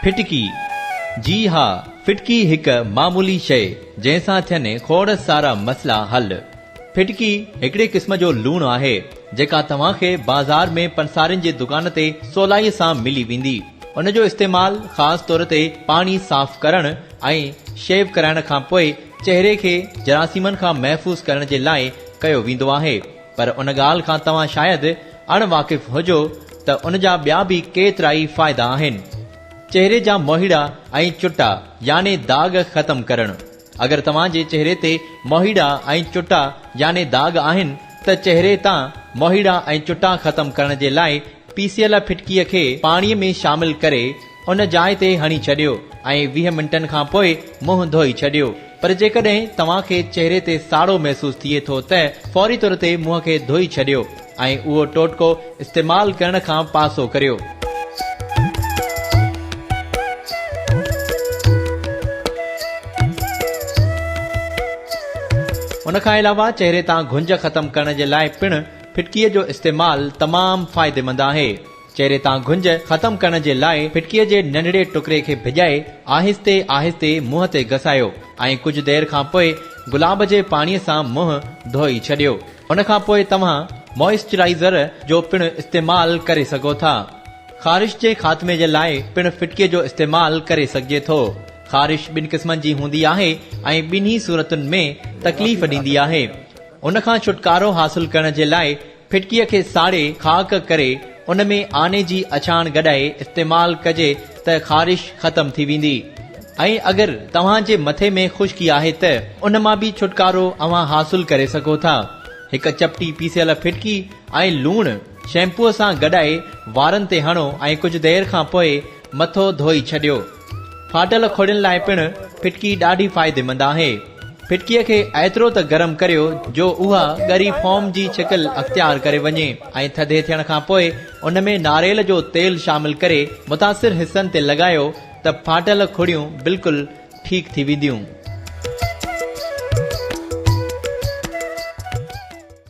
ڦٽڪي، جي ها، ڦٽڪي هڪ معمولي شيء، جنهن سان ٿين کوڙ سارا مسئلا حل. ڦٽڪي هڪڙي قسم جو لوڻ آهي، جيڪا توهان کي بازار ۾ پنسارين جي دڪان تي سولائيء سان ملي ويندي. ان جو استعمال خاص طور تي پاڻي صاف ڪرڻ ۽ شيو ڪرائڻ کان پوء چهري کي جراثيمن کان محفوظ ڪرڻ جي لاء ڪيو ويندو آهي. پر ان ڳالهه کان توهان شايد اڻ واقف هجو ته ان جا ٻيا به ڪيترائي فائدا آهن. چهري جا موهيڙا ۽ چٽا يعني داغ ختم ڪرڻ، اگر توهان جي چهري تي موهيڙا ۽ چٽا يعني داغ آهن ته چهري تان موهيڙا ۽ چٽا ختم ڪرڻ جي لاء پيسيل ڦٽڪيء کي پاڻيء ۾ شامل ڪري ان جاء تي هڻي ڇڏيو ۽ ويهه منٽن کان پوء منهن ڌوئي ڇڏيو پر جيڪڏهن توهان کي چهري تي ساڙو محسوس ٿئي ٿو ته فوري طور تي منهن کي ڌوئي ڇڏيو ۽ اهو ٽوٽڪو استعمال ڪرڻ کان پاسو ڪريو. ان کان علاوه چهري تان گهنج ختم ڪرڻ جي لاء پڻ ڦٽڪيء جو استعمال تمام فائديمند آهي. چهري تان گهنج ختم ڪرڻ جي لاء ڦٽڪيء جي ننڍڙي ٽڪري کي ڀڄائي آهستي آهستي منهن تي گسايو ۽ ڪجهه دير کان پوء گلاب جي پاڻي سان منهن ڌوئي ڇڏيو. ان کان پوء توهان موئسچرائيزر جو پڻ استعمال ڪري سگهو ٿا. خارش جي خاتمي جي لاء پڻ ڦٽڪيء جو استعمال ڪري سگهجي ٿو. خارش ٻن قسمن جي هوندي آهي ۽ ٻنهي صورتن ۾ تڪليف ڏيندي آهي. ان کان ڇوٽڪارو حاصل ڪرڻ جي لاء ڦٽڪيء کي ساڙي خاڪ ڪري ان ۾ آني جي اڇاڻ گڏائي استعمال ڪجي ته خارش ختم ٿي ويندي ۽ اگر توهان جي مٿي ۾ خشڪي آهي ته ان مان به ڇوٽڪارو اوهان حاصل ڪري سگهو ٿا. هڪ چپٽي پيسيل ڦٽڪي ۽ لوڻ شيمپوء سان گڏائي وارن تي هڻو ۽ ڪجهه دير کان پوء مٿو ڌوئي ڇڏيو. ڦاٽل ڦڙين لاء پڻ ڦٽڪي ڏاڍي فائديمند آهي. ڦٽڪيء کي ايترو ته گرم ڪريو جو اها ڳري فوم جي شڪل اختيار ڪري وڃي ۽ ٿڌي ٿيڻ کان پوء ان ۾ ناريل جو تيل شامل ڪري متاثر حصن تي لڳايو ته ڦاٽل ڦڙيون بلڪل ٺيڪ ٿي وينديون.